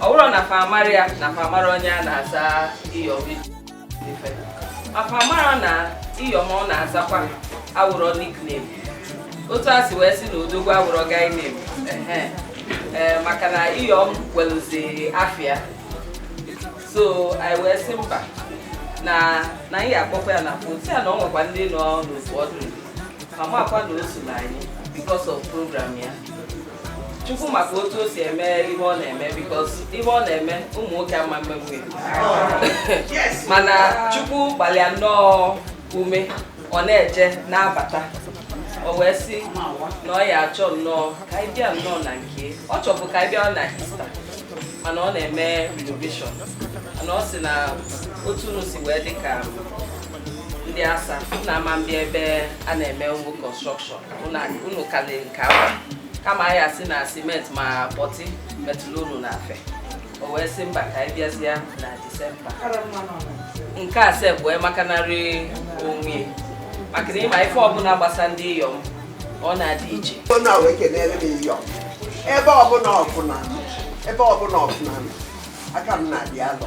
ọ wụrụ na fa amara ya na fa amarọ onye a na-aza iyom ife fa amara na iyom ọ na-azakwa awụrọ nickname otu a si wee sị na odogwu awụrọ guy name ee maka na iyom welụzi afịa so anyị wee sị mba na anyị akpọkwa ya na fon sị ya na ọ nwekwa ndị nọ n'otu ọdụ ma makwa na o so na anyị because of program ya chukwu maka otu o si eme ihe ọ na-eme because ihe ọ na-eme ụmụ nwoke ama emenwu mana chukwu gbalị ya nnọọ ume ọ na-eje na-abata o wee sị na ọ ya-achọ nnọọ ka anyị bịa nnọọ na nke ọ chọbụ ka anyị bịa na Easter mana ọ na-eme renovation mana ọ sị na otu unu si wee dị ka ndị asa na ama mbịa ebe a na-eme ụmụ construction unu kalị nke ahụ kama anyị asị na cement ma putty metụlụ unu n'afe o wee sị mba ka anyị bịazie na December nke a sef wee makanarị onwe maka na ị ma ife ọbụla gbasa ndị iyom ọ na-adị iche ebe ọbụla ọ fụ na aka m na-adị alọ